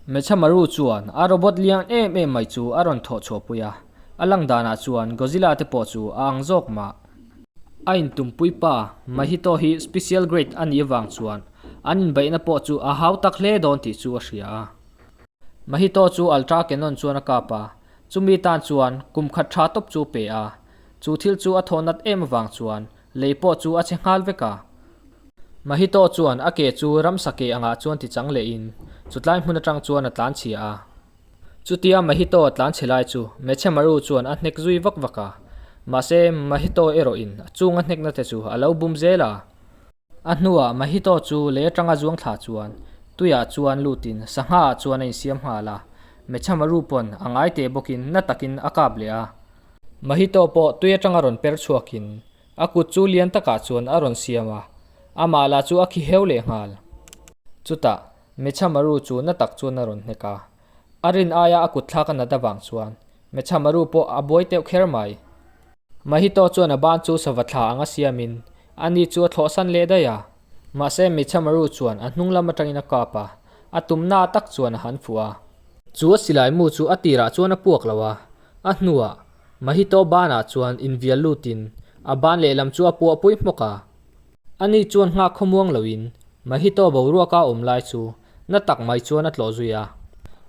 Hmeichhe Maru chuan a robot lian em em mai chu a rawn thawh chhuah pui a, a lang danah chuan Godzilla te pawh chu a ang zawk mah. A intumpui pa Mahito hi special grade a nih avang chuan an inbeihna pawh chu a hau tak hle dawn tih chu a hria a. Mahito chu Ultra Cannon chuan a kap a, Chumi tan chuan kum khat tha tawp chu pe a, chu thil chu a thaw nat em avang chuan lei pawh chu a che nghal vek a. Mahito chuan a ke chu ramsa ke angah chuan ti chang leh in chutlai hmun atang chuan a tlan chhia a. Chutia Mahito a tlan chhe lai chu Hmeichhe Maru chuan a hnek zui vak vak a, mahse Mahito erawh in a chunga hnekna te chu a lo bum zel a. A hnuah Mahito chu leh tanga zuang thla chuan Tuia chuan lut in sangha ah chuan a in siam nghal a, Mecha Maru pawn a ngai teh bawk in na tak in a kap leh a. Mahito pawh Tuia tanga rawn per chhuak in a kut chu lian tak ah chuan a rawn siam a, a mah lah chu a khi heu leh nghal. Chutah Mecha Maru chu na tak chuan a rawn hnek a, a rin aia a kut thlak a nat avang chuan Mecha Maru pawh a buai teuh kher mai. Mahito chuan a ban chu sava thla anga siam in a ni chu a thlawh san leh daih a, mahse Micha Maru chuan a hnung lam atangin a kap a, a tum na tak chuan a han fuh a. Chu a silai mu chu a tirah chuan a puak lo a, a hnuah Mahito ban ah chuan in vial lut in a ban leh lam chu a puah pui hmawk a. A ni chuan nghah khawmuang lo in Mahito boruak a awm lai chu na tak mai chuan a tlawh zui a,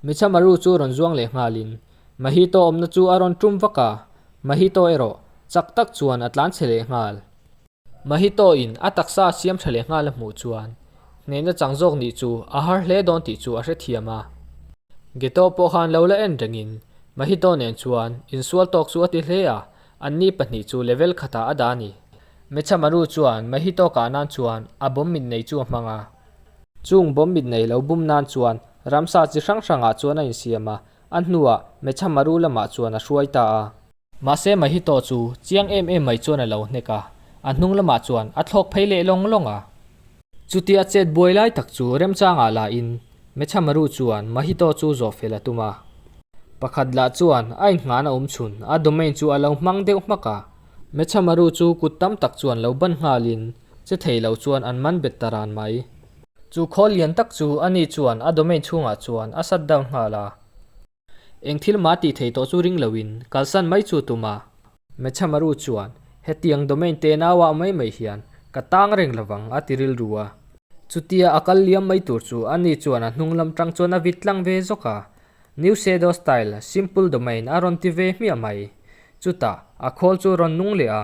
Micha Maru chu rawn zuang leh nghal in Mahito awmna chu a rawn tum vak a, Mahito erawh chak tak chuan a tlan chhe leh nghal. Mahito in a taksa a siam tha leh nghal a hmuh chuan hnehna chang zawk nih chu a har hle dawn tih chu a hrethiam a. Geto pawh khan lo la en rengin Mahito nen chuan insual tawk chu a ti hle a, anni pahnih chu level khatah a dah a ni. Mechamaru chuan Mahito kah nan chuan a bawm mit nei chu a hmang a. Chung bawm mit nei lo bum nan chuan ramsa chi hrang hrangah chuan a insiam a, A hnuah Mecha Maru lamah chuan a hruai ta a. Mahse Mahito chu chiang em em mai chuan a lo hnek a, a hnung lamah chuan a thlawk phei leh lawng lawng a. Chuti a chet buai lai tak chu remchangah la in Mecha Maru chuan Mahito chu zawh fel a tum a. Pakhat lah chuan a inhngahna awm chhun a domain chu a lo hmang deuh hmak a. Mecha Maru chu kut tam tak chuan lo ban nghal in che thei lo chuan an man bet ta ran mai. Chu khawl lian tak chu a ni chuan a domain chhungah chuan a shut down nghal a. Eng thil mah tih thei tawh chu ring loin kalsan mai chu tum a. Mechamaru chuan, Hetiang domain te nauah mai mai hian ka tang reng lovang, a ti rilru a. Chutia a kal liam mai tur chu a ni chuan a hnung lam tang chuan a vit tlang ve zawk a. Newshadow style simple domain a rawn ti ve hmiah mai. Chutah a khawl chu a rawn nung leh a.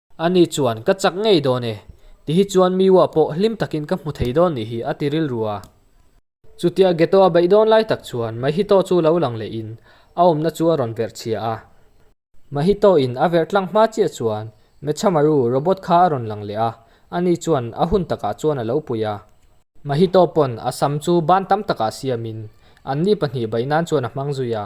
Ani chuan, Ka chak ngei dawn e. Ti hi chuan Miwa pawh hlim takin ka hmu thei dawn ni hi a ti rilru a. Chutia Geto a beih dawn lai tak chuan Mahito chu lo lang leh in a awmna chu a rawn verh chhia a. Mahito in a verh tlang hma chiah chuan Mechamaru robot kha a rawn lang leh a. Ani chuan a hun takah chuan a lo pui a. Mahito pawn a sam chu ban tam takah siam in an ni pahnih beih nan chuan a hmang zui a.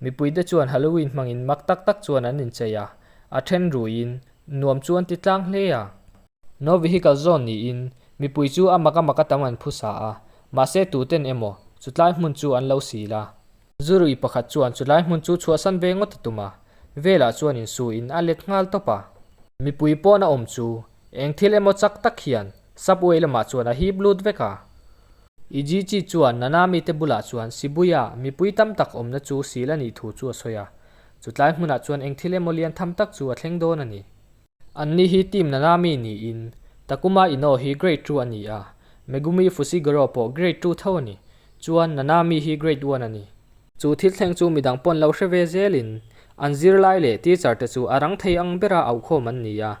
Mipuite chuan Halloween hmangin mak tak tak chuan an inchei a, a then ruiin nuam chu an ti tlang hle a. No vehicle zone niin mipui chu a mak a mak a tam an phu sa a, mahse tuten emaw chutlai hmun chu an lo sil a. Zu rui pakhat chuan chulai hmun chu chhuahsan ve ngawt a tum a, velah chuan insuiin a let nghal tawp a. Mipui pawn a awm chu eng thil emaw chak tak hian Subway lamah chuan a hip lut vek a. Ijichi chuan nana mite bulah chuan Sibuya mipui tam tak awmna chu sil a nih thu chu a sawi a, chutlai hmunah chuan eng thil emaw lian tham tak chu a thleng dawn a ni. Anni hi team nana mi niin, Takuma Ino hi grade two a ni a, Megumi Fushiguro pawh grade two tho a ni, chuan nana mi hi grade one a ni. Chu thil thleng chu midang pawn lo hre ve zelin an zirlai leh teacher te chu a rang thei ang bera auhkhawm an ni a,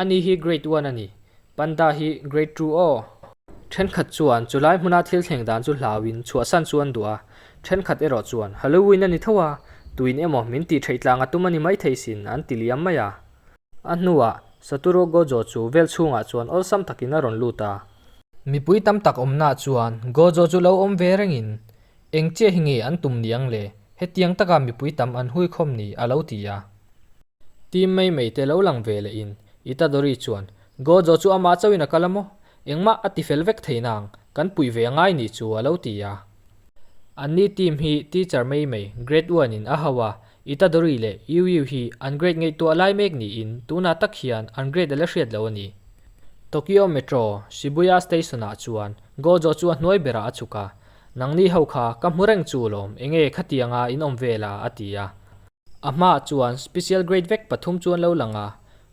Ani hi Grade one a ni. Panda hi Grade two aw. Thenkhat chuan chu lai hmuna thil thleng dan chu hlauin chhuahsan chu an duh a, thenkhat erawh chuan Halloween a ni tho a, tuin emaw min tih theih tlang a tum a ni maithei sin an ti liam mai a. A hnuah, Satoru Gojo chu vel chhungah chuan awlsam takin a rawn lut a. Mipui tam tak awmnaah chuan Gojo chu lo awm ve rengin, Engchia hi nge an tum niang le, hetiang taka mipui tam an hui khawm ni? a lo ti a. Team mei mei te lo lang ve leh in i ta Dory chuan Gojo chu amah chauh in a kal a maw? Engmah a ti fel vek theih nang kan puih ve a ngai ni chu a lo ti a. An ni team hi teacher mei mei grade one in a ho a, i ta Dory leh Yiu Yiu hi an grade ngaihtuah lai mek ni in tunah tak hian an grade a la hriat lo a ni. Tokyo Metro Shibuya station ah chuan Gojo chu a hnuai berah a chuk a, Nangni ho kha ka hmu reng chu lawm enge khatianga in awm ve la a ti a. A hmaah chuan Special Grade vek pathum chu an lo lang a,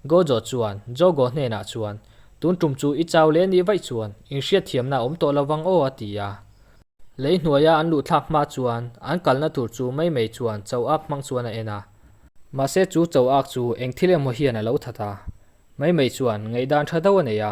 Gojo chuan Jogo hnenah chuan, Tun tum chu i chau leh nih vaih chuan inhriatthiamna awm tawh lo vang aw a ti a. Lei hnuaia an luhthlak hma chuan an kalna tur chu mai mai chuan chau ak hmang chuan a en a. Mahse chu chau ak chu eng thil emaw hian a lo that a, mai mai chuan ngaihdan tha deuh a nei a.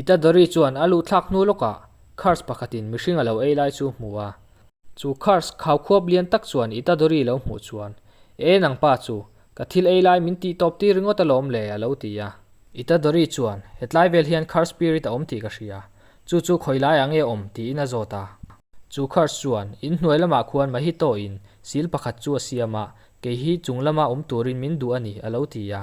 Itadori chuan a luhthlak hnu lawkah Kurtz pakhatin mihring a lo ei lai chu hmu a. Chu Kurtz khau khuap lian tak chuan Itadori lo hmuh chuan, E nang pa chu ka thil ei lai min tih tawp tir ringawt alawm le, a lo ti a. Itadori chuan, Hetlai vel hian Kurtz spirit a awm tih ka hria, chu chu khawi laiah nge awm? tiin a zawt a. Chu Kurtz chuan, In hnuai lamah khuan Mahito-in sil pakhat chu a siam a, kei hi chung lama awm turin min duh a ni, a lo ti a.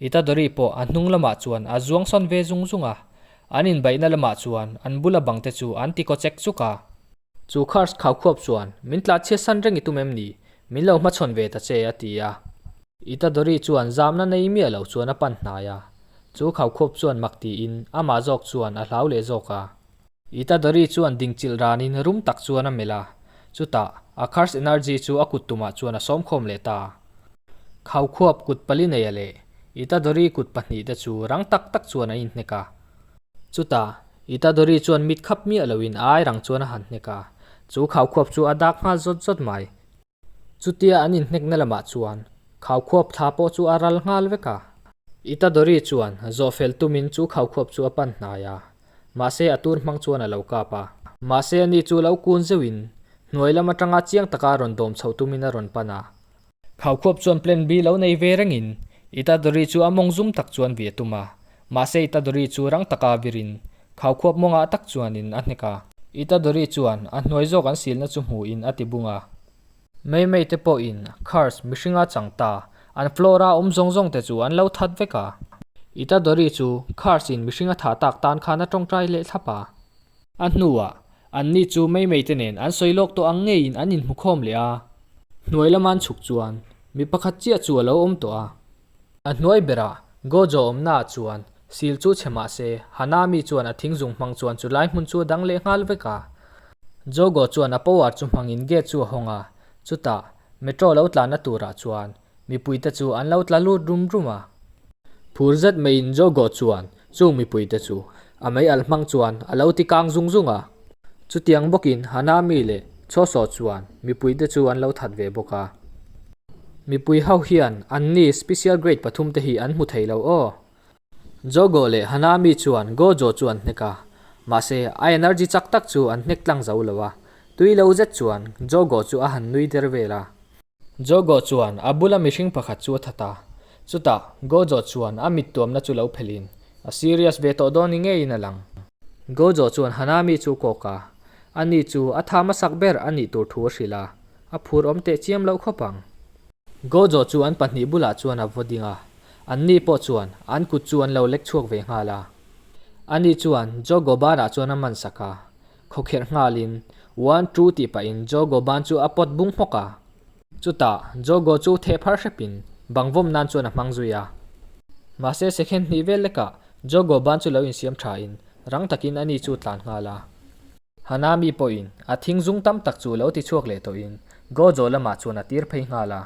Itadori pawh a hnung lamah chuan a zuang sawn ve zung zung a, an inbaihna lamah chuan an bula bangte chu an ti kawchek chuk a. Chu Kars khau khuap chuan, Min tla chhia san reng i tum em ni? Min lo hma chhawn ve ta che, a ti a. Itadori chuan zamna nei miah lo chuan a pan hnai a, chu khau khuap chuan mak tiin amah zawk chuan a hlau leh zawk a. I Tadari chuan ding chilh ranin rum tak chuan a melh a, chutah a Khar's Energy chu a kut tumah chuan a sawmkhawm leh ta a. Khau khuap kut pali neia leh I Tadari kut pahnih te chu rang tak tak chuan an inhnek a. Chutah I Tadari chuan mit khap miah loin airang chuan a han hnek a, chu khau khuap chu a dak nghal zawt zawt mai. Chutia an inhnekna lamah chuan Khawkhuap thla pawh chu a ral nghal vek a. Itadori chuan zawhfel tumin chu Khawkhuap chu a pan hnai a, mahse a tur hmang chuan a lo kap a. Mahse a ni chu lo kun zeuhin hnuai lam atanga chiang taka rawn dawm chhoh tumin a rawn pan a. Khawkhuap chuan plan bi lo nei ve rengin Itadori chu a mawng zum tak chuan via tum a, Mahse i Tadawri chu rang taka virin khau khuap mawng ah tak chuanin a hnek a. I Tadawri chuan a hnuai zawk an silna chu hmuhin a ti bung a. Meimei te pawhin cars mihringa chang ta, an floor a awm zawng zawng te chu an lo that vek a. I Tadawri chu cars in mihring a thah tak tan khan a tawngtai leh thlap a. A hnuah anni chu Meimei te nen an sawi lawk tawh ang ngeiin an inhmukhawm leh a. Hnuai lama an chhuk chuan mi pakhat chiah chu a lo awm tawh a. A hnuai berah, Gojo awmnaah chuan sil chu chhe mah se, Hanami chuan a thing zung hmang chuan chu lai hmun chu a dang leh nghal vek a. Jogo chuan a power chu hmangin gate chu a hawng a, chutah Metro lo tlanna turah chuan mipuite chu an lo tla lut rum rum a. Phur zet maiin Jogo chuan Chung mipui te chu a mei alh hmang chuan a lo ti kang zung zung a. Chutiang bawkin Hana mi leh Choso chuan mipui te chu an lo that ve bawk a. Mipui ho hian an ni special grade pathum te hi an hmu thei lo aw. Jogo leh Hana mi chuan Gojo chu an hnek a, mahse a energy chak tak chu an hnek tlang zo lo a. Tui lo zet chuan Jogo chu a han nui der vel a. Jogo chuan a bula mihring pakhat chu a that a, chutah Gojo chuan a mittuamna chu lo phelhin a serious ve tawh dawn ni ngeiin a lang. Gojo chuan Hanami chu kawk a, ani chu a tham a sak ber a nih tur thu a hrilh a, a phur awm teh chiam loh khawp ang. Gojo chu an pahnih bulah chuan a vaw ding a, anni pawh chuan an kut chu an lo lek chhuak ve nghal a, ani chuan Jogo banah chuan a man sak a, Khawkherh nghalin One two tih pahin Jogo ban chu a pawt bung hmawk a. Chutah Jogo chu theh phar hrepin bang vawm nan chuan a hmang zui a. Mahse second hnih vel lekah Jogo ban chu lo insiam thain rang takin a ni chu tlan nghal a. Hana mi pawhin a thing zung tam tak chu lo ti chhuak leh tawhin Gojo lamah chuan a tir phei nghal a.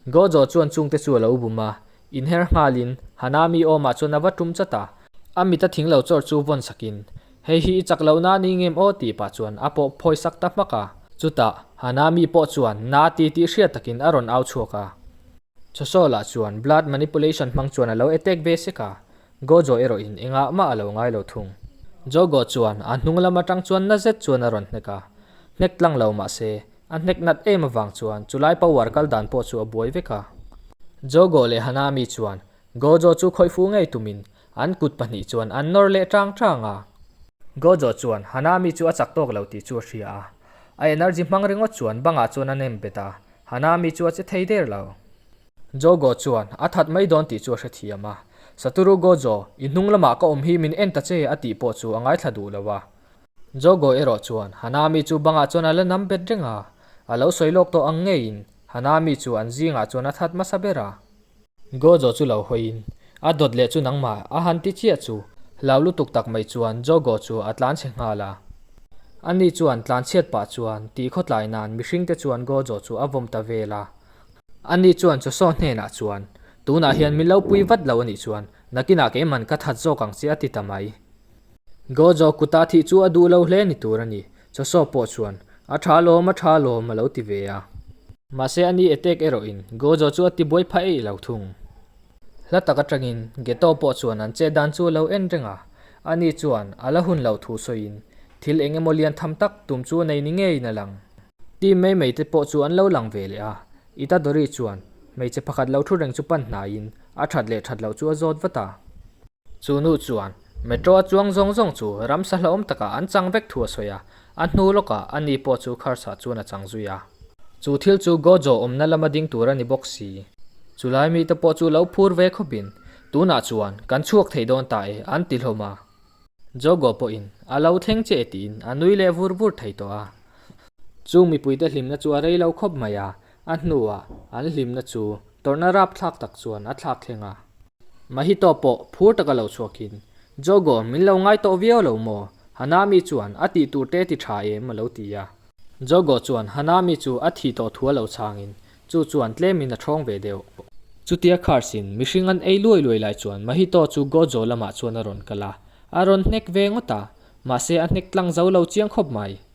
Gojo chuan chungte chu a lo bum a, inher nghalin, Hanami awmah chuan a va tum chat a, a mit a thing lo chawr chu vawn sakin, Hei hi i chak loh na ni ngem aw? tih pah chuan a pawh phawi sak ta hmak a. Chutah Hanami pawh chuan na ti tih hriat takin a rawn au chhuak a. Chawsawla chuan blood manipulation hmang chuan a lo attack ve sek a, Gojo erawhin engah mah a lo ngai lo thung. Jogo chuan a hnunglam atang chuan nazet chuan a rawn hnek a, hnek tlang lo mah se A hnek nat em avang chuan chu lai po uar kal dan pawh chu a buai vek a. Jogo leh Hana mi chuan Gojo chu khawih fu ngei tumin an kut pahnih chuan an nawr leh chang chang a. Gojo chuan Hana mi chu a chak tawk lo tih chu a hria a. A energy hmang ringawt chuan bangah chuan a nem bet a, Hana mi chu a che thei der lo. Jogo chuan a that mai dawn tih chu a hrethiam a, Satoru Gojo, i hnung lamah ka awm hi min en ta che a tih pawh chu a ngaithla duh lo a. Jogo erawh chuan Hanami chu bangah chuan a la nam bet reng a, a lo sawi lawk tawh ang ngeiin Hanami chu an zingah chuan a that hmasa ber a. Gojo chu lo hawiin, A dawt leh chu nangmah a han ti chiah chu, hlauh lutuk tak mai chuan Jogo chu a tlan chhe nghal a. Ani chuan tlan chhiat pah chuan tih khawtlai nan mihring te chuan Gojo chu a vawm ta vel a. Ani chuan Joso hnenah chuan, Tunah hian min lo pui vat lo a nih chuan, nakinah keiman ka that zawk ang che a ti ta mai. Gojo kuta thih chu a duh lo hle ni tur a ni. Chosop pawh chuan, A tha lawm, a tha lawm, a lo ti ve a. Mahse ani attack erawh in, Gojo chu a ti buai phah eih lo thung. Hla tak atangin, Geto pawh chuan an chet dan chu a lo en reng a. Ani chuan, a la hun lo thu sawiin, thil eng emaw lian tham tak tum chu nei ni ngeiin a lang. Team mei mei te pawh chu an lo lang ve leh a. Itadori chuan, hmeichhe pakhat lo thu reng chu pan hnaiin, a that leh that loh chu a zawt vat a. Chu nu chuan, Metro a chuang zawng zawng chu ramsa hlauhawm takah an chang vek thu a sawi a, a hnu lawkah a ni pawh chu kharsa chuan a chang zui a. Chu thil chu Gojo awmna lama ding tur a ni bawk si. Chulai mite pawh chu lo phur ve khawpin, Tunah chuan kan chhuak theih dawn ta e an ti hlawm a. Jogo pawhin a lo thleng che tiin a nui leh vur vur thei tawh a. Chu mipuite hlimna chu a rei lo khawp mai a, A hnuah an hlimna chu tawrhna rap thlak tak chuan a thlak thleng a. Mahito pawh phur taka lo chhuakin, Jogo, min lo ngai tawh viau lo maw? Hanami chuan a tih tur te ti tha em a lo ti a. Jogo chuan Hanami chu a thi tawh thu a lo changin, chu chuan tlemin a thawng ve deuh. Chutia khar sin, mihring an ei luai luai lai chuan Mahito chu Gojo lamah chuan a rawn kal a, a rawn hnek ve ngawt a, mahse a hnek tlang zo lo chiang khawp mai.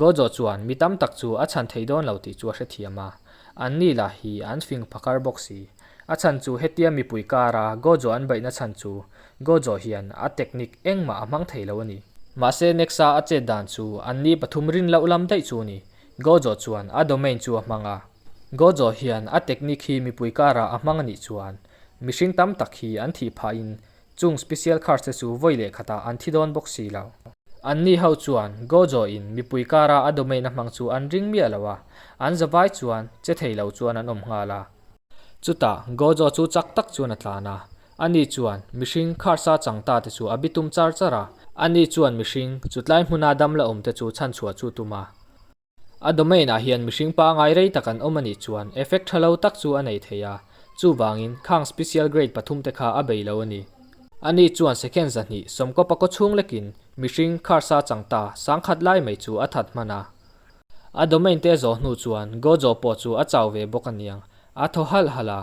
Gojo chuan mi tam tak chu a chhan theih dawn lo tih chu a hrethiam a, an ni lah hi an fing phakar bawk si. A chhan chu hetia mipui kara Gojo an baihna chhan chu Gojo hian a technique engmah a hmang thei lo a ni. Mahse Nexa a chet dan chu an ni pathum rin loh lam daih chu a ni. Gojo chuan a domain chu a hmang a. Gojo hian a technique hi mipui kara a hmang a nih chuan mihring tam tak hi an thih phah in Chung special cars te chu vawi leh khatah an thi dawn bawk si lo. An ni ho chuan Gojo in mipui kara a domain a hmang chu an ring miah lo a, an zavai chuan che thei lo chuan an awm nghal a. Chutah Gojo chu chak tak chuan a tlan a, ani chuan mihring cars a chang ta te chu a bi tum char char a, ani chuan mihring chutlai hmuna dam la awm te chu chhan chhuah chu tum a. A domain ah hian mihring pangai rei tak an awm a nih chuan effect tha lo tak chu a nei thei a, chuvangin khang special grade pathum te kha a bei lo a ni. A ni chuan second zahnih sawmkaw pakaw chhung lekin mihring kharsa chang ta sang khat lai mai chu a that hman a. A domain te zawh hnu chuan go zawh pawh chu a chau ve bawk a niang, a thaw halh halh a.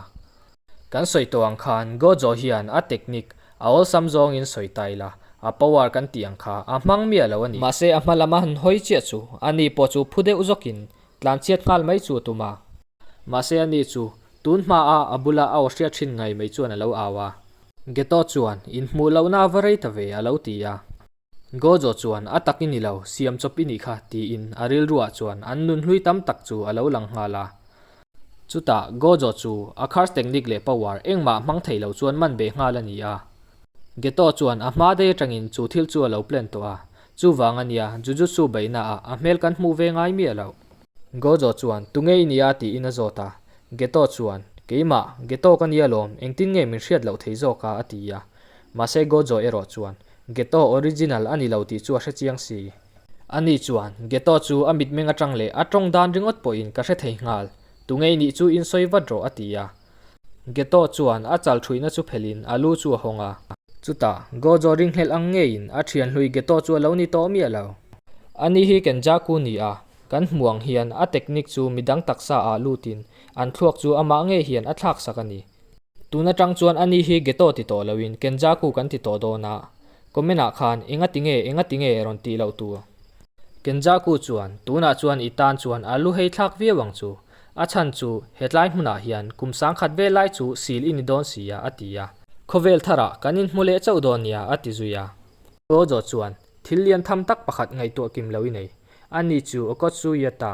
Kan sawi tawh ang khan Gojo hian a technique a awlsam zawngin sawi ta ila, a power kan tih ang kha a hmang miah lo a ni. Mahse a hma lama han hawi chiah chu a ni pawh chu phu deuh zawkin tlanchhiat nghal mai chu a tum a. Mahse a ni chu tun hmaa a bula a aw hriat thin ngai mai chuan a lo au a. Geto chuan in hmuh lohna va rei ta ve a lo ti a. Gojo chuan, A tak i ni lo, siam chawp i nih kha, tiin a rilruah chuan an nun hlui tam tak chu a lo lang nghal a. Chutah Gojo chu a khar technique leh power engmah hmang thei lo chuan man be nghal a ni a. Geto chuan a hma dei atangin chu thil chu a lo plan tawh a, chuvang a nia, Jujutsu beihna ah a hmel kan hmuh ve ngai miah loh. Gojo chuan, Tunge i nia, tiin a zawt a. Geto chuan, Keimah, Geto ka nia lawm, engtin nge min hriat loh thei zawk a, a ti a. Mahse Gojoy erawh chuan Ghetto original a ni lo tih chu a hre chiang si. Ani chuan Ghetto chu a mitmeng atang leh a tawng dan ringawt pawhin ka hre thei nghal, tu ngei nih chu in sawi vat rawh a ti a. Ghetto chuan a chal thuihna chu phelhin a lu chu a hawng a. Chutah Gojoy ring hlelh ang ngeiin a thian hlui Ghetto chu a lo ni tawh miah lo. Ani hi Kenjaku ni a, kan hmuh ang hian a technique chu midang taksa ah lutin an thluak chu amah ngei hian a thlaksak a ni. Tun atang chuan ani hi ghetto ti tawh loin Kenjaku kan ti tawh dawn a, comment ah khan engati nge engati nge rawn tih loh tur. Kenjaku chuan tunah chuan i tan chuan a lu heithlak viau ang chu, a chhan chu hetlai hmunah hian kum sangkhat vel lai chu sil i ni dawn si a, a ti a. Khawvel thar ah kan inhmu leh chauh dawn nia, a ti zui a. Tojo chuan thil lian tham tak pakhat ngaihtuah kim lo i nei, ani chu Okotsuyeta,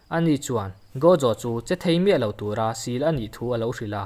A ni chuan, Gojo chu che thei miah lo tura sil a nih thu a lo hrilh a.